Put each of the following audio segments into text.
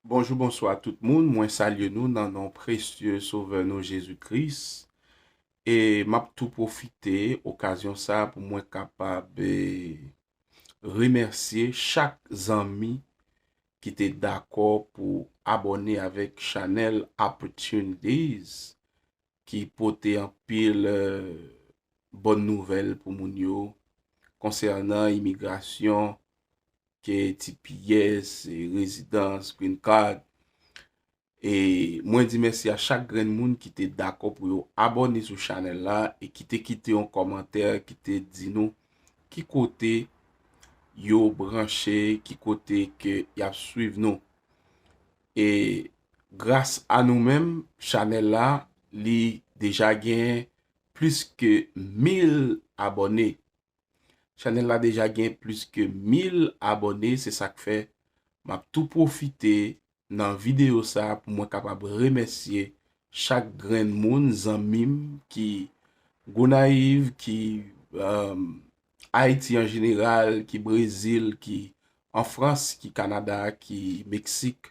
Bonjou bonswa tout moun mwen salye nou nan non presye sovè nou Jezi Kris e map tou pwofite okazyon sa pou mwen kapab remèsye chak zanmi ki te dakò pou abòne avèk chanèl Opportunities ki pote anpil bòn nouvèl pou moun yo konsènan imigrasyon ke tps, rezidans, green card. E mwen di mèsi a chak grenn moun ki te dakò pou yo abòne sou chanèl la e ki te kite yon kòmantè ki te di nou ki kote yo branche, ki kote ke y ap swiv nou. E gras a nou menm, chanèl la li deja gen plis ke 1000 abòne. Chanel la deja gen plis ke 1000 abòne se sak fè map tou pwofite nan videyo sa pou mwen kapab remèsye chak grenn moun zanmim ki Gonayiv ki Ayiti an jeneral ki Brezil ki an Frans ki Kanada ki Meksik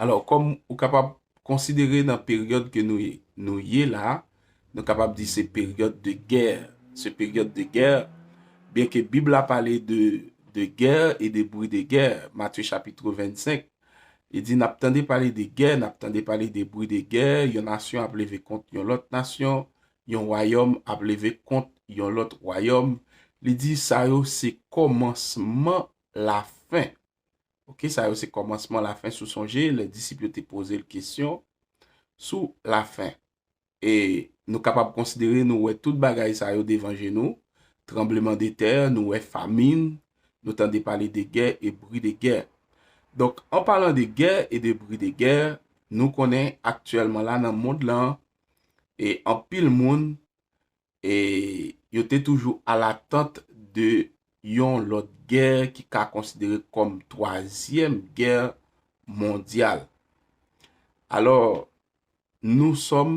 Alò, kòm ou kapab konsidere nan peryòd ke nou ye la, nou kapab di se peryòd de gè, se peryòd de gè, byenke Bib la pale de gè e de bri de gè, Matye chapitre 25, li di, nap tande pale de gè, nap tande pale de bri de gè, yon nasyon ap leve kont yon lòt nasyon, yon wayòm ap leve kont yon lòt wayòm, li di sa yo se kòmansman lafen. Ok, sa yo se kòmansman, lafen sou sonje lè disip yo te poze l kesyon sou lafen. E nou kapab konsidere nou wè tout bagay sa yo devan je nou, tranbleman de tè, nou wè famin, nou tande pale de gè e bri de gè. Donk, an palan de gè e de bri de gè, nou konnen aktyèlman la nan mond lan e anpil moun E yo te toujou alatant de yon lòt gè ki ka konsidere kòm twazyèm gè mondyal. Alò, nou sòm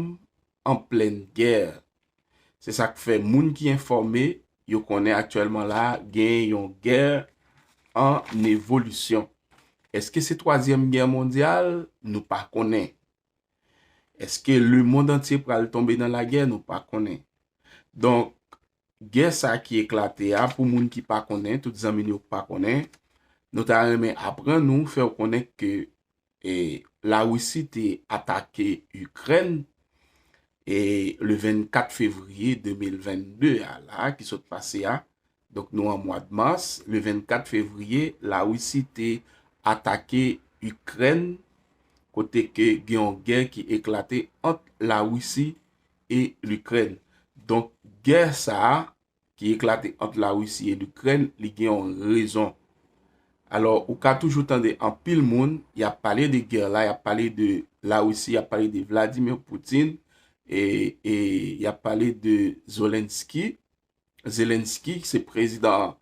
an plenn gè. Se sa k fè moun ki enfòme yo konnen aktyèlman la a genyen yon gè ann evolisyon. Èske se twazyèm gè mondyal? Nou pa konnen. Eske le mond antye pral tonbe nan la gè nou pa konnen. Donk gè sa ki eklate a pou moun ki pa konnen tout zanmi nou yo ki pa konnen nou ta renmen aprann nou fèw konnen ke e la Russie te atake Ukraine e le 24 fevrier 2022 a la ki sot pase a Donk nou an mwad mas, le 24 fevriye la Risi te atake Ikrèn kote ke gen yon gè ki eklate ant la Risi e l'Ikrèn. Donk gè sa a ki eklate ant la Risi e l'Ikrèn li gen yon rezon. Alò ou ka toujou tande anpil moun yap pale de gè la, yap pale de la Risi, yap pale de Vladimir Poutine e yap pale de Zolenski. Zelensky ki se prezidan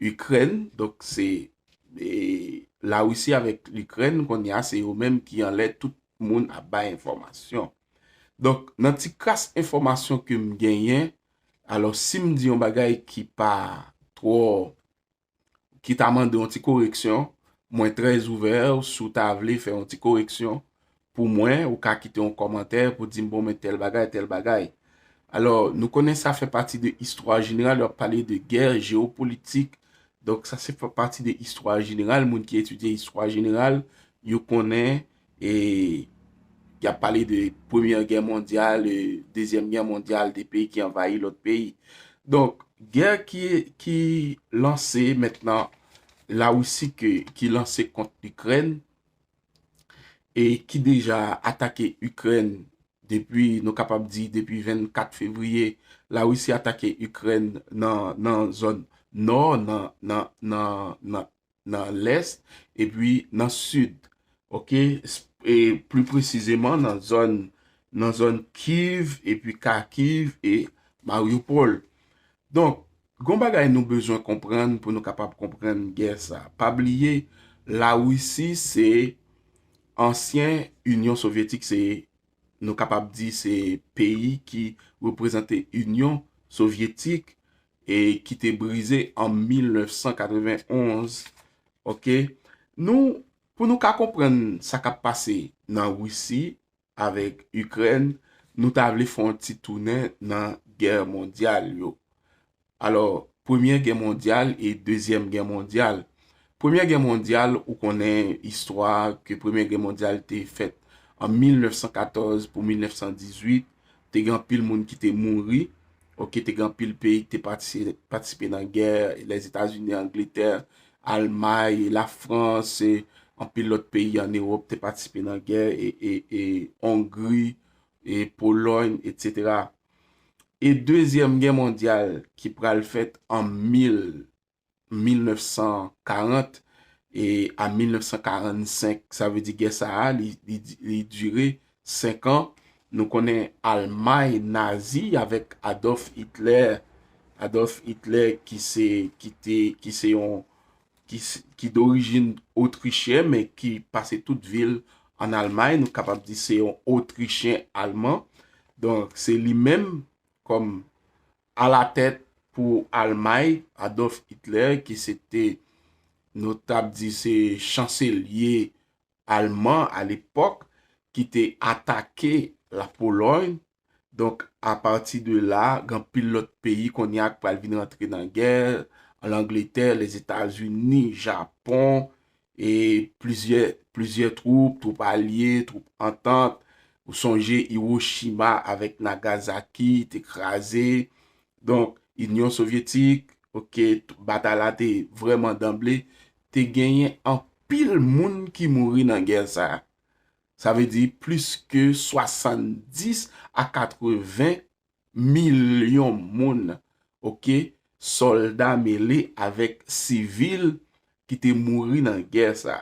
Ikrèn, donk se la Russie avèk l'Ikrèn kounye a se yo menm ki anlè tout moun ap bay enfòmasyon. Donk nan ti kras enfòmasyon ke m genyen, alò si m di yon bagay ki pa twò ki ta mande yon ti koreksyon, mwen trè ouvè ou si w ta vle fè yon ti koreksyon pou mwen, ou ka kite yon kòmantè pou di m bon men tèl bagay, tèl bagay. Alò, nou konnen sa fè pati de istwa jeneral, yo ap pale de gè jeopolitik, donk sa se fè pati de istwa jeneral, moun ki etidye istwa jeneral, yo konnen E y ap pale de premyè gè mondyal, dezyèm gè mondyal, de peyi ki anvayi lòt peyi. Donk, gè ki lanse mentnan la Wisi ki lanse kont Ikrèn e ki deja atake Ikrèn depi nou kapab di depi 24 fevriye la Wisi atake Ikrèn nan zòn nò nan nan lès epi nan sid ok e pli presizeman nan zòn nan zòn kiv epi kakiv e mariupol donk gon bagay nou bezwen konprann pou nou kapab konprann gè sa pa bliye lawisi se ansyen union sovietik se nou kapab di se peyi ki reprezante Inyon Sovyetik e ki te brize an 1991. Ok, nou, pou nou ka konprann sa k ap pase nan Risi avèk Ikrèn, nou ta vle fè yon ti tounen nan gè mondyal yo. Alò, Premyè Gè Mondyal e Dezyèm Gè Mondyal. Premyè Gè Mondyal, ou konnen istwa a, ke Premyè Gè Mondyal te fèt an 1914 pou 1918, te gen anpil moun ki te mouri, ok, te gen anpil peyi ki te patisipe nan gè, Lèzetazini, Angletè, Almay, la Frans, anpil lòt peyi an Ewòp te patisipe nan gè, e Ongri, e Polòy, etc. e dezyèm gè mondyal ki pral fèt an 1940 e a 1945, sa vle di gè sa a li dire 5 an, nou konnen Almay nazi avèk Adolf Hitler, Adolf Hitler ki se yon ki dorijin otrichyen men ki pase tout vi l an Almay, nou kapab di se yon otrichyen alman, donk se li menm kòm alatèt pou Almay, Adolf Hitler ki se te nou ta di se chanselye alman alepòk ki te atake la Polòy Donk, apati de la, gen anpil lòt peyi kounye a ki pral vin rantre nan gè, Langletè, Lezetazini, Japon, e plizyè, plizyè twoup, twoup alye, twoup antant, ou sonje Iwochima avèk Nagazaki te kraze, donk, Inyon Sovyetik, ok, batay la te vrèman danble, te genyen anpil moun ki mouri nan gè sa a. Sa vle di plis ke 70 a 80 milyon moun, ok, sòlda mele avèk sivil ki te mouri nan gè sa.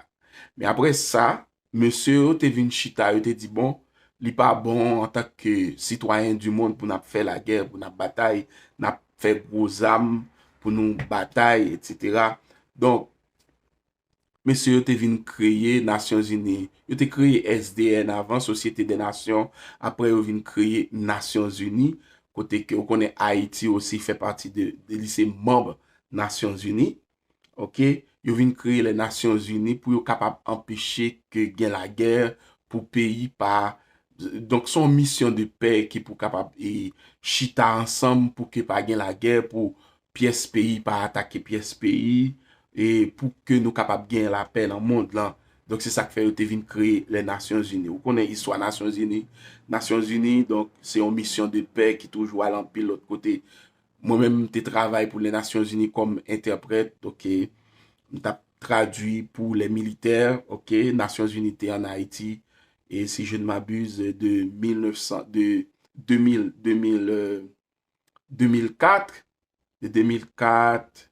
Men apre sa, mesye yo te vin chita, yo te di bon, li pa bon an tank ke sitwayen di mond pou nap fè lagè, pou nap batay, nap fè gwo zam pou nou batay, etc. Donk, mesye yo te vin kreye Nasyon Zini. Yo te kreye SDN avan, Sosyete dè Nasyon, apre yo vin kreye Nasyon Zini, kote ke ou konnen Ayiti osi fè pati de, li se manb Nasyon Zini. Ok, yo vin kreye lè Nasyon Zini pou yo kapab anpeche ke gen lagè pou peyi pa, donk son misyon de pè ki pou kapab e chita ansanm pou ke pa gen lagè, pou pyès peyi pa atake pyès peyi, e pou ke nou kapab gen lapè nan mond lan. Donk se sa k fè yo te vin kreye lè Nasyon Zini. Ou konnen istwa Nasyon Zini. Nasyon Zini, donk, se yon misyon de pè ki toujou al anpil lòt kote. Mwen menm, m te travay pou lè Nasyon Zini kòm entèprèt, ok. M t ap tradui pou lè militè, ok. Nasyon Zini te an Ayiti, e si je ne m'abuse, de 1900, de 2000, 2000. 2004, de 2004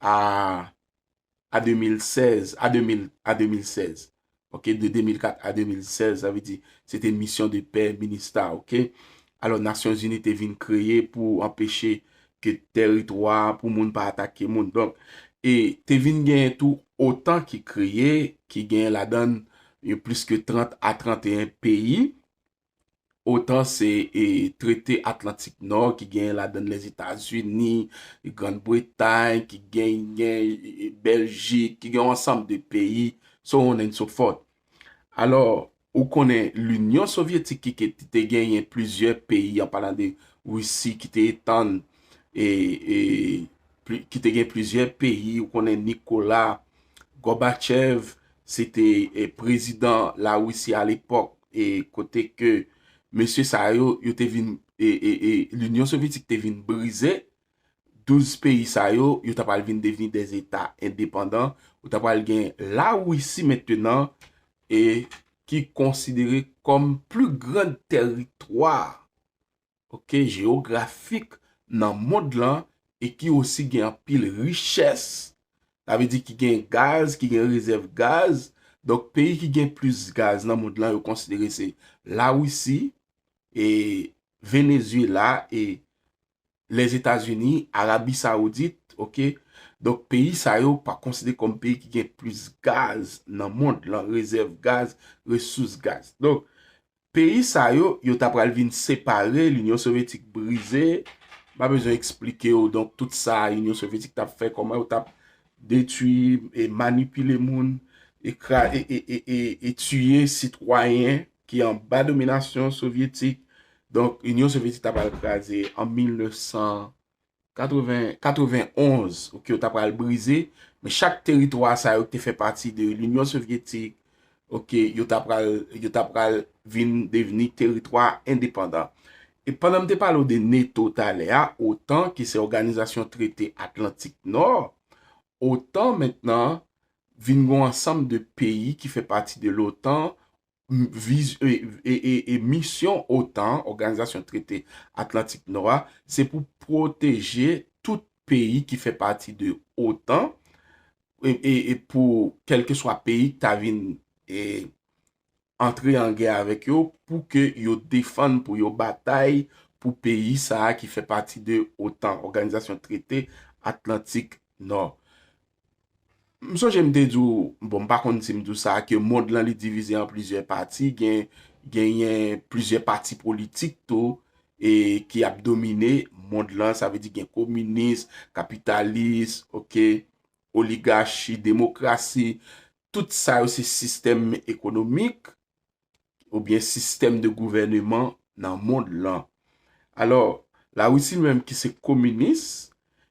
a 2016, a 2016, ok, de 2004 a 2016, sa vle di, se te misyon de pè minista, ok, alò Nasyon Zini te vin kreye pou anpeche ke teritwa pou moun pa atake moun, donk, e te vin gen tou otan ki kreye, ki gen ladan yo plis ke 30 a 31 peyi, Otan se trete Atlantik Nò ki genyen ladann Lèzetazini, Grand Bretay, ki genyen Bèljik, ki genyen ansanm de peyi, so on and so forth. Alò, ou konnen Linyon Sovyetik ki te genyen plizyè peyi an palan de Risi ki te etann, ki te genyen plizyè peyi, ou konnen Nikola, Gòbachev, se te prezidan Larisi a lepòk e kote ke mesye sa yo, yo te vin, e, e, e, Linyon Sovyetik te vin brize, 12 peyi sa yo, yo ta pral vin devni de zeta endepandan, ou ta pral gen Larisi mentenan e ki konsidere kòm pli grand tèritwa ok jewografik nan mond lan e ki osi gen anpil richès sa vle di ki gen gaz ki gen rezèv gaz donk peyi ki gen plis gaz nan mond lan yo konsidere se la wisi e venezyela e lèzetazini arabi sawoudit ok donk peyi sa yo pa konsidere kòm peyi ki gen plis gaz nan mond lan rezèv gaz resous gaz donk Peyi sa yo, yo ta pral vin separe, l'Union Sovyetik brize, m pa bezwen eksplike w donk tout sa Union Sovyetik tap fè, kòman yo tap detwi, e manipile moun, e kra, e, e, e, e, e tiye sitwayen ki anba dominasyon Sovyetik, donk Union Sovyetik ta pral kraze an 1900. 91, ok, yo ta pral brize, men chak teritwa sa yo ki te fè pati de l'Union Sovyetik, ok, yo ta pral, yo ta pral vin devni teritwa endepandan. E pandan m te pale w de neto talè a, otan ki se òganizasyon trete Atlantik Nò, otan mentnan vin gon ansanm de peyi ki fè pati de lotan, Misyon otan, Oganizasyon Trete Atlantik Nò a, se pou pwoteje tout peyi ki fè pati de otan, e pou kèlkeswa peyi ki ta vin antre an gè avèk yo, pou ke yo defann, pou yo batay pou peyi sa a ki fè pati de otan, Oganizasyon Trete Atlantik Nò. M sonje m te di w, bon m pa konn si m di w sa, ke mond lan li divize an plizyè pati, gen genyen plizyè pati politik tou, e ki ap domine mond lan, sa vle di gen kominis, kapitalis, ok, oligachi, demokrasi, tout sa yo se sistèm ekonomik oubyen sistèm de gouvèneman nan mond lan. Alò, Larisi li menm ki se kominis,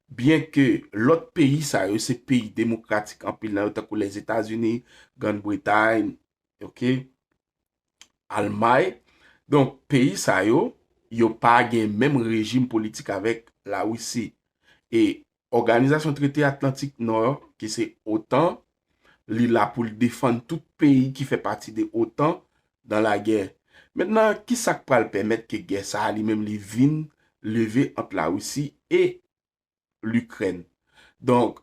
byen ke lòt peyi sa yo se peyi demokratik anpil nan yo tankou Lèzetazini, Grann Bretay, ok, Almay, donk peyi sa yo, yo pa gen menm rejim politik avèk la Wisi. E Òganizasyon Trete Atlantik Nò, ki se otan, li la pou l defann tout peyi ki fè pati de otan dan lagè. Mentnan, ki sa k pral pèmèt ke gè sa a li menm li vin leve ant la Wisi e Likrèn. Donk,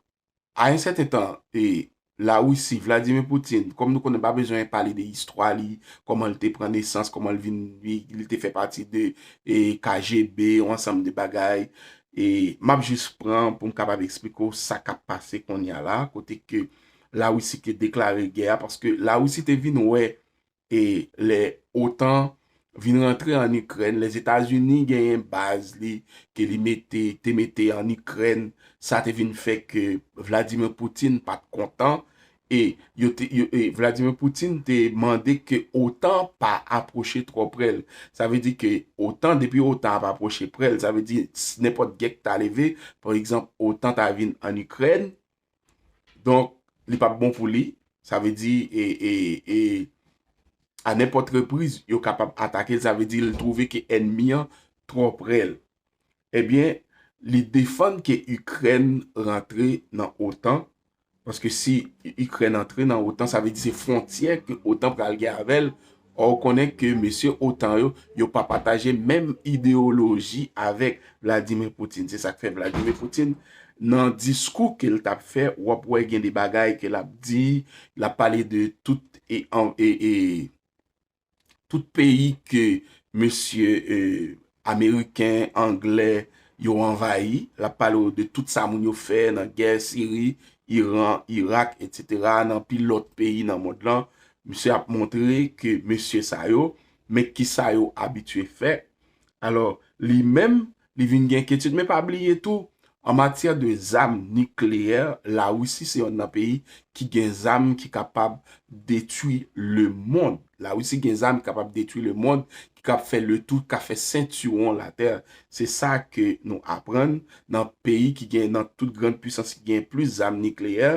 a yon sèten tan, e, Larisi, Vladimir Poutine, kòm nou konnen pa bezwen pale de istwa li, kòman li te pran nesans, kòman li vin, li te fè pati de, e, KGB, yon ansanm de bagay, e, m ap jis pran pou m kapab eksplike w sa k ap pase konnya la, kote ke Larisi te deklare gè a, paske Larisi te vin wè e lè otan vin rantre an ikrèn lèzetazini genyen baz li ke li mete te mete an ikrèn sa te vin fè ke vladimir poutine pat kontan e yo te e vladimir poutine te mande ke otan pa aproche trò prèl sa vle di ke otan depi otan ap aproche prèl sa vle di nenpòt gè ki ta leve pa egzanp otan ta vin an ikrèn Donk, li pap bon pou li. Sa vle di, e, a nenpòt repriz, yo kapab atake l. Sa vle di, li twouve ke ènmi an twò pre l. Ebyen, li defann ke Ikrèn rantre nan otan, paske si Ikrèn antre nan otan, sa vle di se fwontyè ke otan pral gen avè l, Or ou konnen ke mesye otan yo, yo pa pataje menm ideyoloji avèk Vladimir Poutine. Se sak fè Vladimir Poutine nan diskou ke l tap fè, wap wè gen de bagay ke lap di, lap pale de tout e tout peyi ke mesye Ameriken, Anglè, yo anvayi. L ap pale w de tout sa moun yo fè nan gè Siri, Iran, Irak, etsetera, nan anpil lòt peyi nan mond lan. Misye ap montre ke mesye sa yo, men ki sa yo abitye fè. Alò, li menm, li vin gen enketid. Men pa bliye tou, An matyè de zam nikleyè, Larisi se yonn nan peyi ki gen zam ki kapab detwi lemond. Larisi gen zam ki kapab detwi lemond, ki kab fè le tou, ka fè sentiwon latè. Se sa ke nou aprann nan peyi ki gen, nan tout grand pwisans ki gen plis zam nikleyè.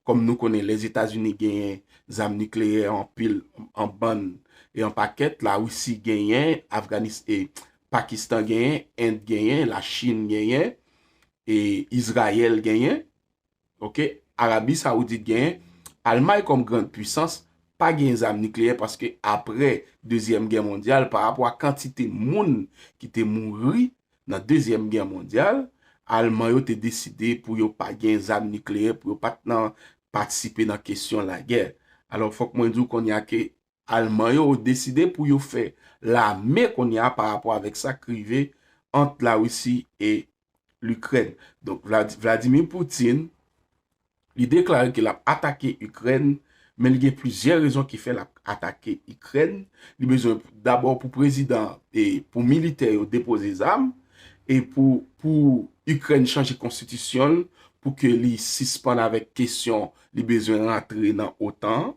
Kòm nou konnen Lèzetazini genyen zam nikleyè anpil, an bann e an pakèt. Larisi genyen, Afganis e Pakistan genyen, End genyen, la Chine genyen, e Israel genyen, ok, Arabie Saoudite genyen, Almay kòm grand puissance pa genyen zam nikleyè paske apre dezyèm gè mondyal pa rapò a kantite moun ki te mouri nan dezyèm gè mondyal, Alman yo te deside pou yo pa genyen zam nikleyè pou yo pat nan patisipe nan kesyon lagè. Alò fòk mwen di w konnya ke Alman yo deside pou yo fè lame kounye a pa rapò avèk sa k rive ant Larisi e Likrèn. Donk Vladimir Putin li deklare ke l ap atake Ikrèn men li gen plizyè rezon ki fè l ap atake Ikrèn. Li bezwen dabò pou prezidan e pou militè yo depoze zam e pou Ikrèn chanje konstitisyon l pou ke li sispann avèk kesyon li bezwen rantre nan otan an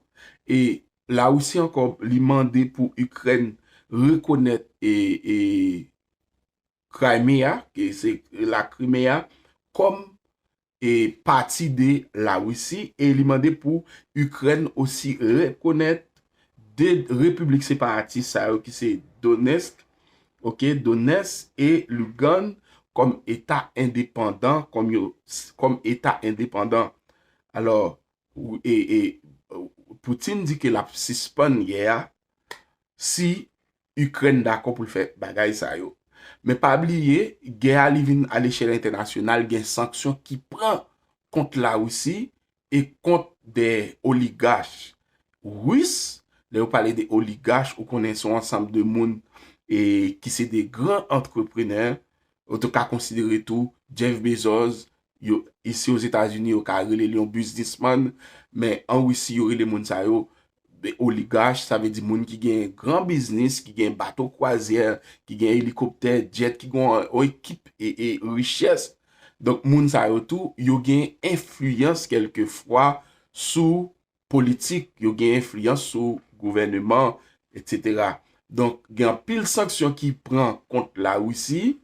e la Russie ankò li mande pou Ikrèn rekonèt e e Crimea ke se la Crimea kòm e pati de la Russie e li mande pou Ikrèn osi rekonèt 2 repiblik separatis sa yo ki se Donetsk ok, Donès e Lugann kòm eta endepandan, kòm yo, kòm eta endepandan. Alò, e, e, Poutine di ke l ap sispann gè a si Ikrèn dakò pou l fè bagay sa yo. Men pa bliye, gè a li vin a lechèl entènasyonal, gen sanksyon ki pran kont Larisi e kont de oligach Ris, lè yo pale de oligach ou konnen son ansanm de moun e ki se de gran antreprenè, ou te ka konsidere tou Jeff Bezos, yo isi Ozetazini yo ka rele l yon biznisman, men an Risi yo rele moun sa yo de oligach, sa vle di moun ki gen gran biznis, ki gen bato kwazyè, ki gen elikoptè, djèt, ki gen yon ekip e richès. Donk moun sa yo tou, yo gen enfliyans kelke fwa sou politik, yo gen enfliyans sou gouvèneman, etc. Donk gen anpil sanksyon ki pran kont la Russie,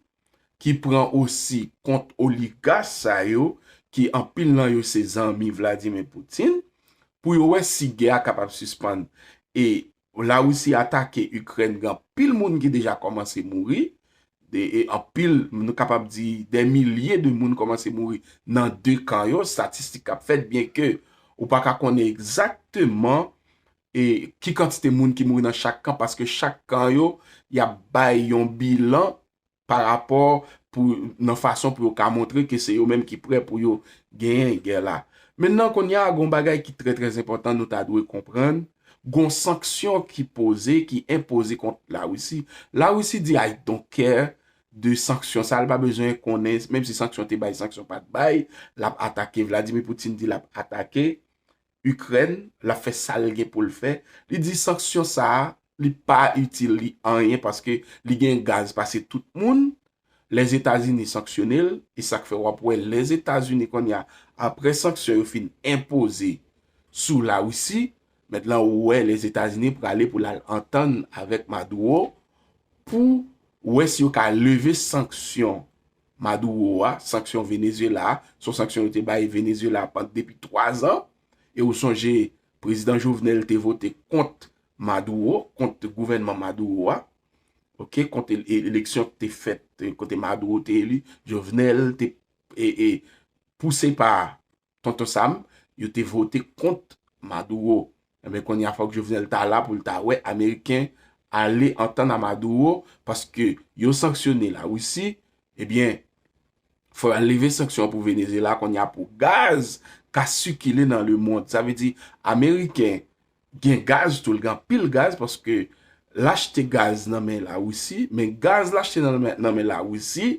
ki pran osi kont oligas sa yo ki anpil nan yo se zanmi Vladimir Putin pou yo wè si gè a kapab sispann e la Russie atake Ukraine gen anpil moun ki deja kòmanse mouri de e anpil nou kapab di dè milye de moun kòmanse mouri nan 2 kan yo statistik kap fèt byen ke ou paka konnen egzakteman e ki kantite moun ki mouri nan chak kan paske chak kan yo y ap bay yon bilan pa rapò pou nan fason pou yo ka montre ke se yo menm ki prè pou yo genyen gè la. Mennan kounye a gon bagay ki trè trè enpòtan nou ta dwe konprann gon sanksyon ki poze ki enpoze kont la Risi. La Risi di I don't care de sanksyon sa li pa bezwen konnen menm si sanksyon te bay sanksyon pat bay l ap atake Vladimir Poutine di l ap atake Ikrèn, l ap fè sa l gen pou l fè. Li di sanksyon sa a, li pa itil li anyen paske li gen gaz pase tout moun. Lèzetazini sanksyone l, e sa k fè w ap wè Lèzetazini kounye a, apre sanksyon yo fin enpoze sou Larisi, mèt lan ou wè Lèzetazini prale pou l al antann avèk Maduro pou wè si yo ka leve sanksyon. Maduro a, sanksyon Venezyela a, son sanksyon yo te bay Venezyela pand depi 3 zan, e ou sonje Prezidan Jovenel te vote kont Maduro, kont gouvènman Maduro a, ok, kont eleksyon ki te fèt, kote Maduro te eli, Jovenel te, e, e, pouse pa Tonton Sam, yo te vote kont Maduro. Enben kounye a fòk Jovenel ta la pou l ta wè Ameriken ale antann a Maduro paske yo sanksyone la Russie, ebyen fò yo leve sanksyon an pou Venezyela kounye a pou gaz ka sikile nan lemond. Sa vle di Ameriken gen gaz tou, li gen anpil gaz paske l achte gaz nan men Lawisi, men gaz l achte nan men Lawisi,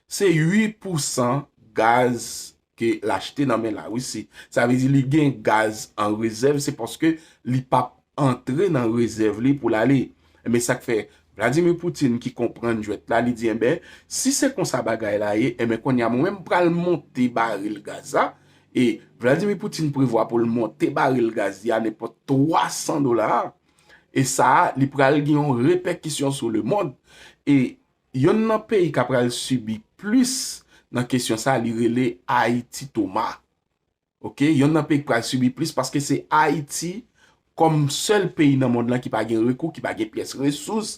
se 8 pousan gaz ke l achte nan men Lawisi. Sa vle di li gen gaz an rezèv, se paske li pa antre nan rezèv li pou l ale. Enben sa k fè, Vladimir Poutine ki konprann jwèt la, li di enben, si se konsa bagay la ye, enben kounye a mwen menm pral monte baril gaz la, E Vladimir Poutine prevwa pou l monte baril gaz li a nenpòt 300 dola. E sa a li pral gen yon repèkisyon sou lemond. E yonn nan peyi k apral sibi plis nan kesyon sa a li rele Ayiti Toma. Ok, yonn nan peyi k pral sibi plis paske se Ayiti kòm sèl peyi nan mond lan ki pa gen rekou, ki pa gen pyès resous